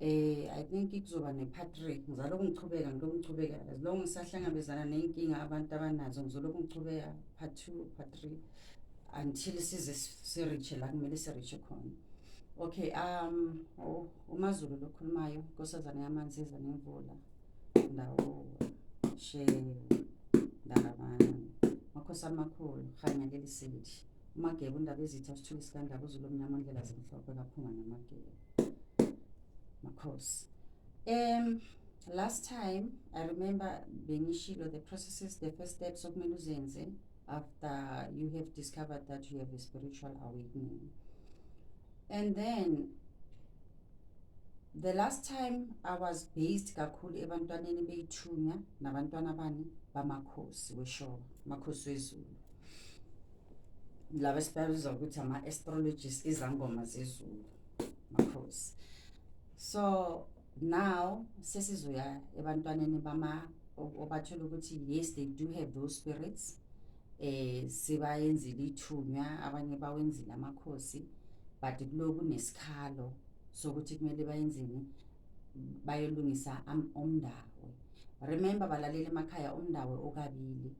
Eh I think kuzoba ne-part three ngizalokhu ngichubeka ngilokhu ngichubeka as long ngisahlangabezana ney'nkinga abantu abanazo ngizolokhu ngichubeka part two part three until size sirishe la kumele sirishe khona okay um oh, umazulu lokhulumayo nkosazane yamanzi iza nemvula ndawo she ndalabana makhosi amakhulu rhanya leli seli Umageba undaba izitha sithule sikandaba uzulu omnyama ondlela zimhlophe kaphunga namageba. Makhosi. Um last time I remember bengishilo the processes the first steps okumele uzenze after you have discovered that you have a spiritual awakening. And then the last time I was based kakhulu ebantwaneni beyithunya nabantwana bani bamakhosi weshoba, makhosi wezulu. laba esibabiza ukuthi ama-astrologist izangoma zezulu makhosi so now sesizoya ebantwaneni bama obathola ukuthi yes they do have those spirits eh sibayenzile ithunywa abanye bawenzile amakhosi but kuloku nesikhalo sokuthi kumele bayenzini bayolungisa umndawe remember balaleli emakhaya umndawe okabili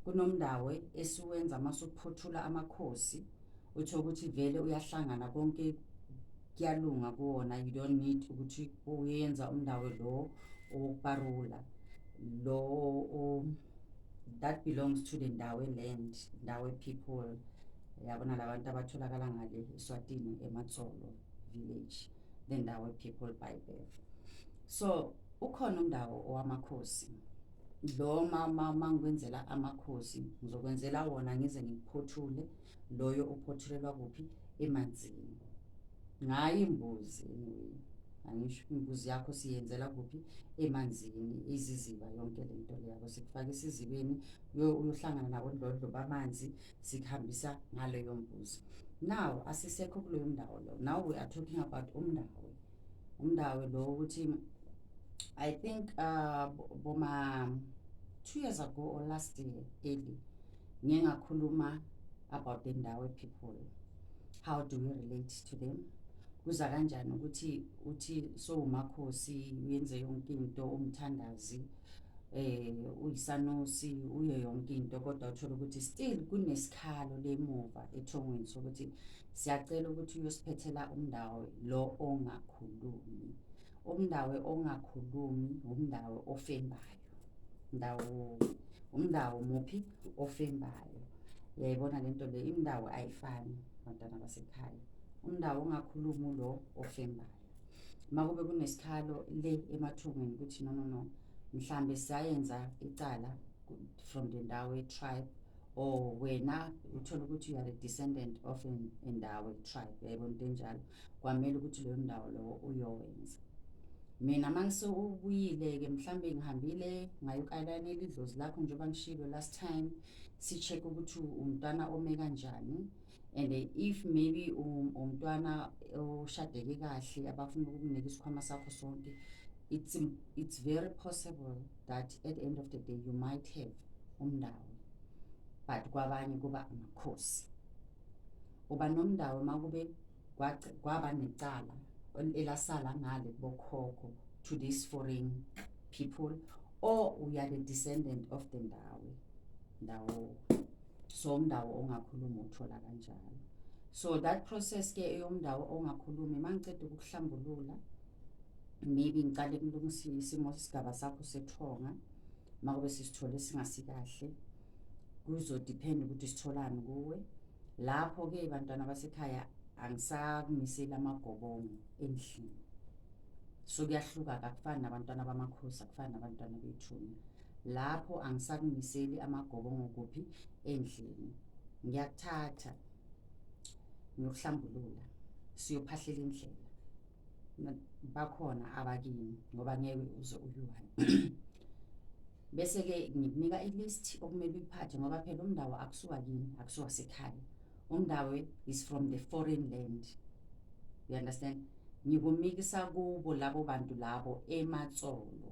kunomndawe esiwenza uma suphothula amakhosi utho ukuthi vele uyahlangana konke kuyalunga kuwona you don't need ukuthi uyenza umndawe lo owokuparula lo that belongs to the ndawe land ndawe people yabona labantu abatholakala ngale eswatini ematsolo village the ndawo people by birth so ukhona undawo owamakhosi lo mama mangikwenzela amakhosi ngizokwenzela wona ngize ngikuphothule loyo uphothulelwa kuphi emanzini ngayi imbuzi anyway angisho imbuzi yakho siyenzela kuphi emanzini iziziba yonke lento leyabo sikufaka isizibeni uyohlangana nabodlodlo bamanzi sikuhambisa ngaleyo mbuzo now asisekho kuleyo ndawo lo now we are talking about umndawe umndawe lo ukuthi i think uh, boma two years ago or last year early ngiye ngakhuluma about the ndawe people how do we relate to them kuza kanjani ukuthi uthi so umakhosi uyenze yonke into umthandazi eh uyisanusi uyo yonke into kodwa uthola ukuthi still kunesikhalo lemuva ethongweni sokuthi siyacela ukuthi uyosiphethela umndawe lo ongakhulumi umndawe ongakhulumi umndawe ofembayo ndawo umndawo muphi ofembayo uyayibona le nto le indawo ayifani bantwana basekhaya umndawo ongakhulumi lo ofembayo makube kunesikhalo le emathungweni ukuthi no no no mhlambe siyayenza icala from the ndawo ye-tribe or wena uthole ukuthi you are a descendant of indawo ye-tribe yayibona into enjalo kwamele ukuthi leyo ndawo lowo uyowenza mina uma ngisewubuyile-ke mhlawumbe ngihambile ngayokayilana elidlozi lakho njengoba ngishilo last time si-check-e ukuthi umntwana ome kanjani and if maybe um, umntwana ushadeke kahle abafuna ukukunika isikhwama sakho sonke it's, it's very possible that at the end of the day you might have umndawo but kwabanye kuba amakhosi uba nomndawo uma kube kwaba necala elasala ngale kubokhokho to these foreign people or we are the descendant of the ndawo ndawo so umndawo ongakhulumi uthola kanjalo so that process ke eyomndawo ongakhulumi mangiceda ukuhlambulula maybe ngicale kulungisa isimo sigaba sakho sethonga makube sisithole singasikahle kuzodepend ukuthi sitholani kuwe lapho ke bantwana basekhaya angisakumiseli amagobongo endlini so kuyahluka kakufani nabantwana bamakhosi akufani nabantwana bethunya lapho angisakumiseli amagobongo kuphi endlini ngiyakuthatha ngiyokuhlambulula siyophahlela indlela bakhona abakini ngoba ngeke uze uyiwani bese-ke ngikunika i-list okumele uyiphathe ngoba phela umndawo akusuka kini akusuka sekhaya umndawo is from the foreign land you understand ngikumikisa kubo labo bantu labo ematsolo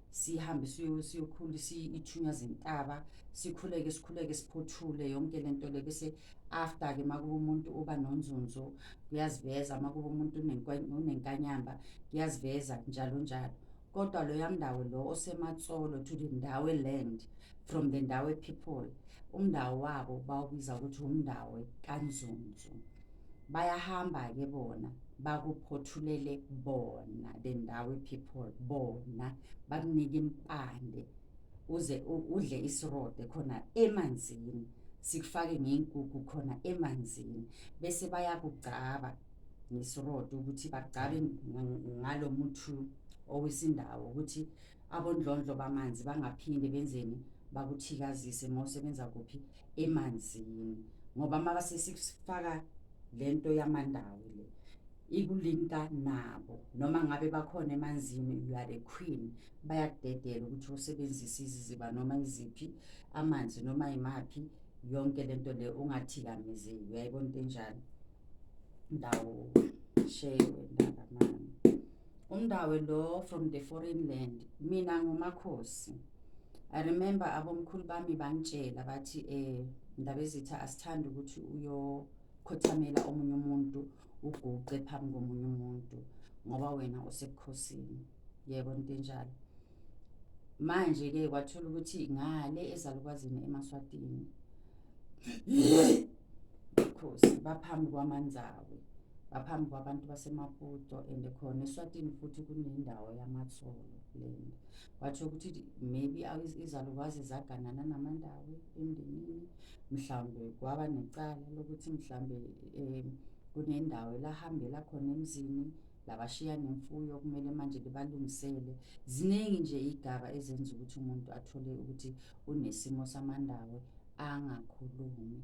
sihambe siyo- siyokhula si- ithunywa zintaba sikhuleke sikhuleke siphothule yonke le nto le bese after-ke uma kuba umuntu uba nonzunzo kuyaziveza uma kuba umuntu unenkwa- unenkanyamba kuyaziveza njalo njalo kodwa loya mndawo lo osematsolo to the ndawe land from the ndawe people umndawo wabo bawubiza ukuthi umndawe kanzunzu bayahamba-ke bona bakuphothulele bona the ndawo people bona bakunike impande uze udle isirode khona emanzini sikufake ngey'nkukhu khona emanzini bese bayakugcaba ngesirode ukuthi bagcabe ngalo muthi owesindawo ukuthi abondlondlo bamanzi bangaphinde benzeni bakuthikazise mawusebenza kuphi emanzini ngoba maka sesifaka lento yamandawo le ikulinka nabo noma ngabe bakhona emanzini you are the queen bayakudedela ukuthi usebenzise iziziba noma iziphi amanzi noma imaphi yonke lento le ungathikamezeki uyayibona into enjalo ndawo shewe ndaba mama umndawe lo from the foreign land mina ngumakhosi i remember abomkhulu bami bangitshela bathi um ndaba ezitha asithandi ukuthi uyokhothamela omunye umuntu uguqe phambi komunye umuntu ngoba wena usebukhosini yebo into enjalo manje-ke kwathola ukuthi ngale ezalukwazini emaswatini khosi baphambi kwamanzawi baphambi kwabantu basemaputo and khona eswatini futhi kunendawo yamatholo lena watsho ukuthi maybe izalukwazi zaganana namandawi emndenini mhlawumbe kwaba necala lokuthi mhlawumbe um kunendawo elahambela khona emzini labashiya nemfuyo kumele manje libalungisele ziningi nje igaba ezenza ukuthi umuntu athole ukuthi unesimo samandawe angakhulumi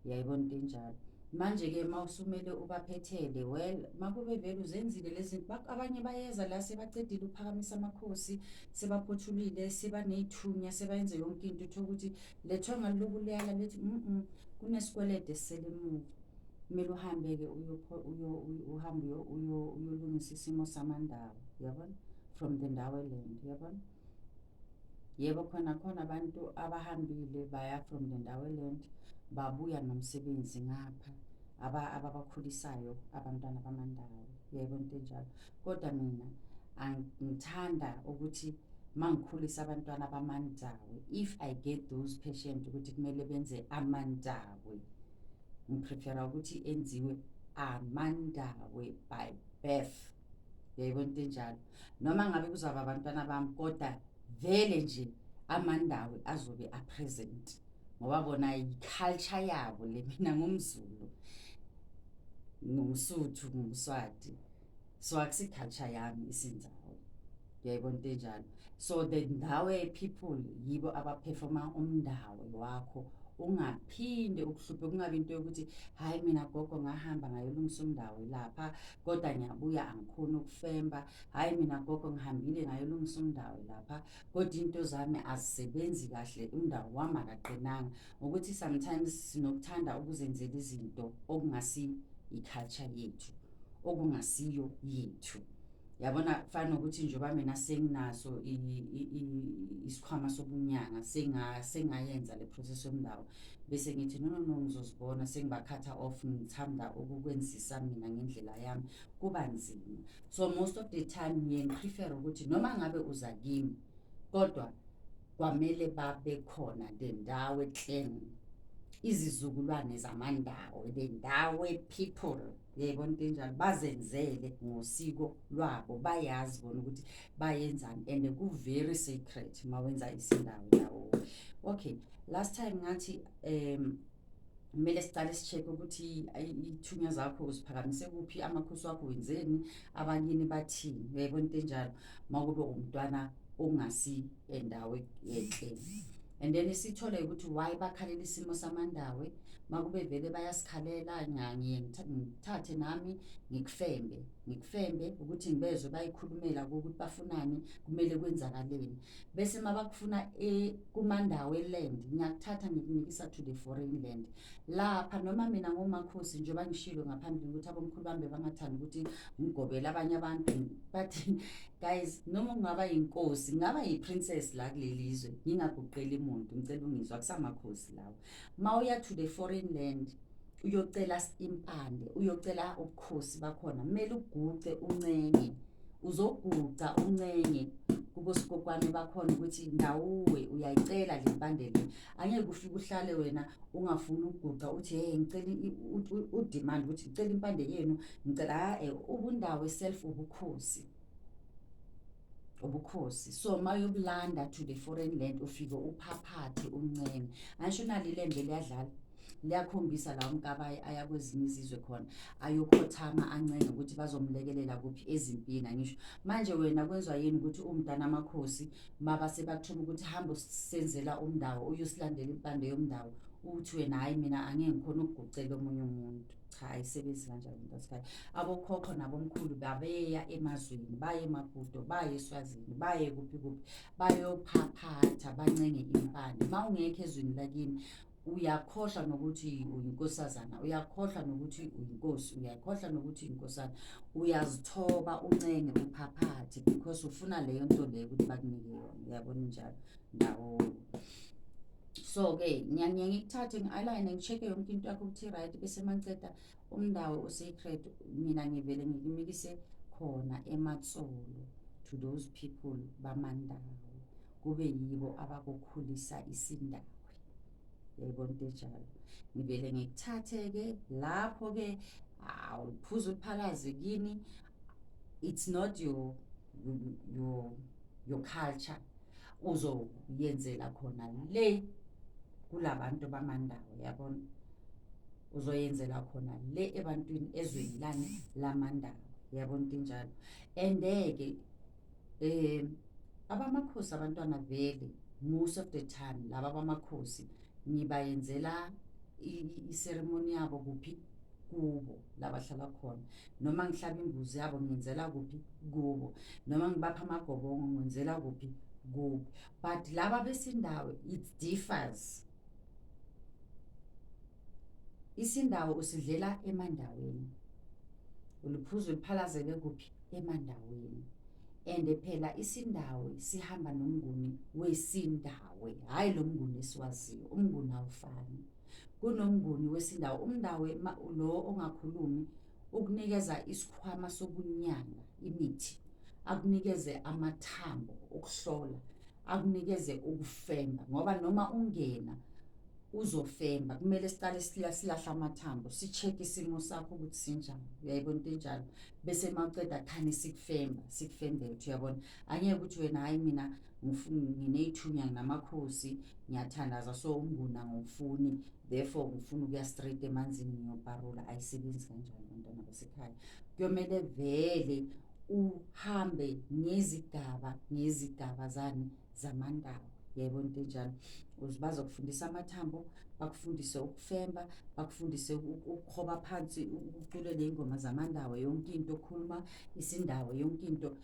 yayibona into enjalo manje-ke uma usumele ubaphethele well makube vele uzenzile lezi abanye bayeza la sebacedile ukuphakamisa amakhosi sebaphothulile sebaneyithunya sebayenze yonke into uthole ukuthi lethwe ngalokuleyala lethi mm kunesikwelede esisele emuva kumele uhambe-ke uhambe uyolungisa isimo samandawo yabona from the ndaweland yabona yebo khona khona abantu abahambile baya from the ndaweland babuya nomsebenzi ngapha ababakhulisayo abantwana bamandawo yebo into enjalo kodwa mina ngithanda ukuthi mangikhulisa abantwana bamandawe if i get those patient ukuthi kumele benze amandawe ngiprefera ukuthi enziwe amandawe by birth yayibona into enjalo noma ngabe kuzaba abantwana bami kodwa vele nje amandawe azobe apresent ngoba bona yiculture yabo le mina ngumzulu ngumsuthu ngumswati so akusiculture yami isindawo yayibona into enjalo so the ndawe people yibo abaperforma umndawo wakho ungaphinde ukuhluphe kungabi into yokuthi hhayi mina gogo ngahamba ngayolungisa umndawo lapha kodwa ngiyabuya angikhoni ukufemba hhayi mina gogo ngihambile ngayolungisa umndawo lapha kodwa into zami azisebenzi kahle umndawo wami akaqinanga ukuthi sometimes sinokuthanda ukuzenzela izinto okungasi i-culture yethu okungasiyo yethu yabona kufana nokuthi njengoba mina senginaso isikhwama sobunyanga sengayenza le process yomndawo bese ngithi no no no ngizozibona sengibakhatha off ngithanda ukukwenzisa mina ngendlela yami kuba nzima so most of the time ngiye ngiprefere ukuthi noma ngabe uza kimi kodwa kwamele babe khona le ndawo eclen izizukulwane zamandawo le ndawo people yebo into enjalo bazenzele ngosiko lwabo bayazi bona ukuthi bayenzani and ku-very secret uma wenza isindawo yawo okay last time ngathi um kumele siqale si-check ukuthi ithunywa zakho uziphakamise kuphi amakhosi wakho wenzeni abakini bathini yebo into enjalo uma kube umntwana ongasi endawo yenhle and then sithole ukuthi why bakhalela isimo samandawe makube vele bayasikhalela ngiye ngithathe nami ngikufembe ngikufembe ukuthi ngibezwe bayikhulumela ukuthi bafunani kumele kwenzakaleni bese mabakufuna e kumandawe land ngiyakuthatha ngikunikisa to the foreign land lapha noma mina ngomakhosi njengoba ngishilo ngaphambili ukuthi abomkhulu bami bebangathanda ukuthi ngigobele abanye abantu but guys noma ungaba yinkosi ngaba yi-princess la kuleli zwe ngingaguqeli muntu ngicela ungizwa kusamakhosi lawo mawuya to the foreign land uyocela impande uyocela ubukhosi bakhona kumele uguce uncenye uzoguca uncenye kubosikokwane bakhona ukuthi ndawuwe uyayicela le mpande le angeke ufike uhlale wena ungafuni ukuguca uthi hey ngicela udemand ukuthi ngicela impande yenu ngicela ha-e ubundawo self ubukhosi ubukhosi so uma uyobulanda to the foreign land ufike uphaphathe umncenge angisho nalo ilembe liyadlala liyakhombisa la umkabayi aya kwezinye izizwe khona ayokhothama ancenge ukuthi bazomlekelela kuphi ezimpini angisho manje wena kwenziwa yini ukuthi umntana amakhosi maba sebathuma ukuthi hambe usenzela umndawo uyosilandela impande yomndawo uthi wena hhayi mina angeke ngikhona ukugucela omunye umuntu cha ayisebenzi kanjalo into asikhayo abokhokho nabomkhulu babeya emazweni baye emabhudo baye eswazini baye kuphi kuphi bayophaphatha bancenge impande uma ungekho ezweni lakini uyakhohlwa nokuthi uyinkosazana uyakhohlwa nokuthi uyinkosi uyakhohlwa nokuthi uyinkosana uyazithoba uncenge uphaphathe because ufuna leyo nto leyo ukuthi bakunike yona uyabona njalo nawo so-ke ngiyangiye ngikuthathe ngi-alayine ngi-check-e yonke into yakho ukuthi i-right bese mangiceda umndawo o-sacred mina ngivele ngikimikise khona ematsolo to those people bamandawo kube yibo abakukhulisa isindawo yayibona into enjalo ngivele ngikuthathe-ke lapho-ke awuphuza uphalaze kini it's not your your your culture uzoyenzela khona le kulabantu bamandawo yabona uzoyenzela khona le ebantwini ezweni lani lamandawo yabona into enjalo and-ke um abamakhosi abantwana vele most of the time laba bamakhosi ngibayenzela iseremoni yabo kuphi kubo labahlala khona noma ngihlaba imbuzi yabo ngenzela kuphi kubo noma ngibapha amagobongo ngenzela kuphi kubo but laba besindawo it differs isindawo usidlela emandaweni uliphuza uliphalazele kuphi emandaweni and phela isindawo sihamba nomnguni wesindawo hhayi lo mnguni esiwaziyo umnguni awufani kunomnguni wesindawo umndawe lo ongakhulumi ukunikeza isikhwama sokunyanga imithi akunikeze amathambo okuhlola akunikeze ukufemba ngoba noma ungena uzofemba kumele siqale silahla amathambo si-check isimo sakho ukuthi sinjani uyayibona into enjalo bese maqeda khani sikufemba sikufembethe uyabona angeke ukuthi wena hhayi mina nginey'thunywa nginamakhosi ngiyathandaza so umnguni angifuni therefore ngifuna ukuya straight emanzini ngiyobharula ayisebenzi kanjani bantwana basekhaya kuyomele vele uhambe ngezigaba ngezigaba zani zamandaba yebo into enjalo bazokufundisa amathambo bakufundise ukufemba bakufundise ukukhoba phansi ucule ley'ngoma zamandawo yonke into okhuluma isindawo yonke into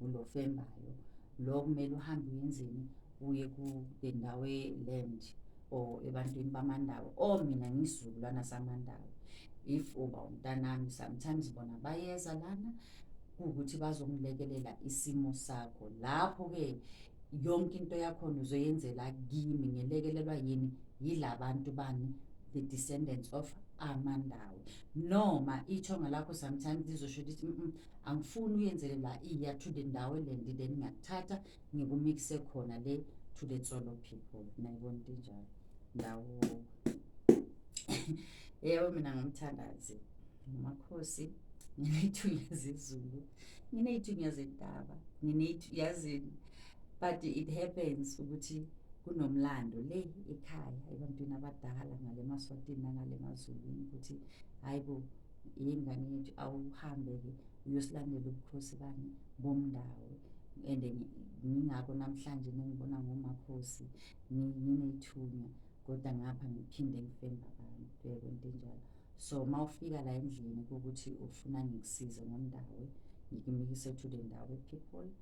Lo fembayo lo kumele uhambe uyenzeni uye kule ndawo e-land or ebantwini bamandawo or oh, mina ngisizukulwana samandawo if uba umntanami sometimes bona bayeza lana kuwukuthi bazokulekelela isimo sakho lapho-ke yonke into yakhona uzoyenzela kimi ngelekelelwa yini yila bantu bani the descendants of amandawo noma ithonga lakho sometimes lizosho ukuthi angifuni uyenzele la iya to the ndawo elendi then ngiyakuthatha ngikumikise khona le to the tsolo people nayibona into enjalo ndawo yebo mina ngumthandazi ngumakhosi nginey'thunya zezulu nginey'thunya zentaba yazini but it happens ukuthi kunomlando le ekhaya ebantwini abadala ngale maswatini nangale mazulwini ukuthi hhayi bo yingane yethu awuhambe-ke uyosilandela ubukhosi bani bomndawo and ngingako namhlanje nengibona ngomakhosi nginethunya kodwa ngapha ngiphinde ngifemba abantu yebo into enjalo so uma ufika la endlini ukuthi ufuna ngikusize ngomndawo ngikimikise to the ndawo people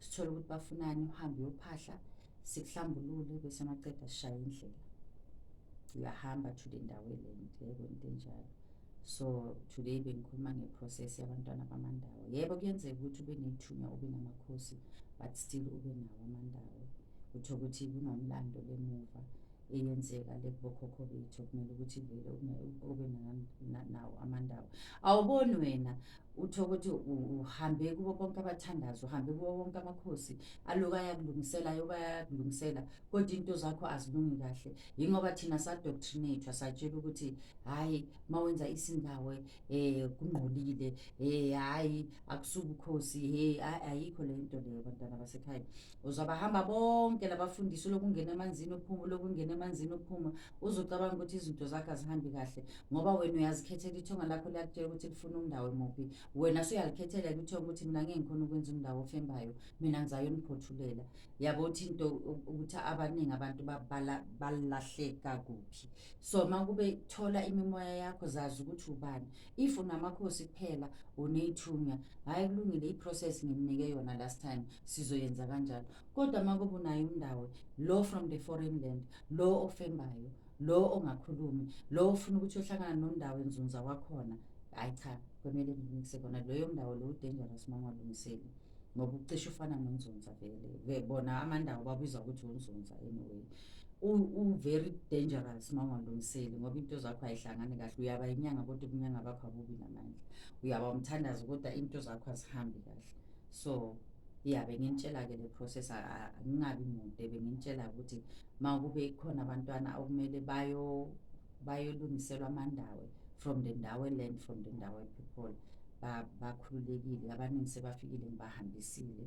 sithole ukuthi bafunani uhambe uyophahla sikuhlambulule bese maqeda sishaye indlela uyahamba to the ndawo elente yebo into enjalo so today bengikhuluma ngeprocess yabantwana bamandawo yebo kuyenzeka ukuthi ube nethunya ube namakhosi but still ube nawo amandawo utho ukuthi kunomlando lemuva eyenzeka le kubokhokho bethu kumele ukuthi vele ube nawo amandawo awuboni wena utho ukuthi uhambe kubo bonke abathandazi uhambe kubo bonke amakhosi aloku ayakulungisela yoba ayakulungisela kodwa into zakho azilungi kahle yingoba thina sadoctrinathwa satshela ukuthi hhayi uma wenza isindawe um eh, kungqolile um eh, hhayi akusuke ukhosi he ayikho le nto leyo bantwana basekhaya uzobahamba bonke labafundisi lokungena emanzini uphuma lokungena emanzini uphuma uzocabanga ukuthi izinto zakho azihambi kahle ngoba wena uyazikhethela ithonga lakho liyakutshela ukuthi lifuna umndawo emuphi wena suyalikhethela kuthiwa ukuthi mina ngeke ngikhona ukwenza umndawo ofembayo mina ngizayoniphothulela yabo uthi into ukuthi abaningi abantu balahleka kuphi so uma kube thola imimoya yakho zazi ukuthi ubani if unamakhosi kuphela uneyithunywa hhayi kulungile i-process ngimnike yona last time sizoyenza kanjalo kodwa uma kube unayo umndawo lo from the foreign land lo ofembayo lo ongakhulumi lo ofuna ukuthi ohlangana nomndawo enzunza wakhona hhayi cha kwemele nginikise kona loyo mndawo lo udangerous uma ungalungiseli ngoba ucishe ufana nonzunza vele bona amandawo babizwa ukuthi unzunza anyway u-very dangerous uma ungalungiseli ngoba into zakho ayihlangani kahle uyaba inyanga kodwa ubunyanga bakho abubi namandla uyaba umthandazi kodwa into zakho azihambi kahle so ya bengintshela-ke le process angingabi mude bengintshela ukuthi uma kube khona abantwana okumele bayolungiselwa amandawe from the ndawe land from the ndawe people bakhululekile abaningi sebafikile ngibahambisile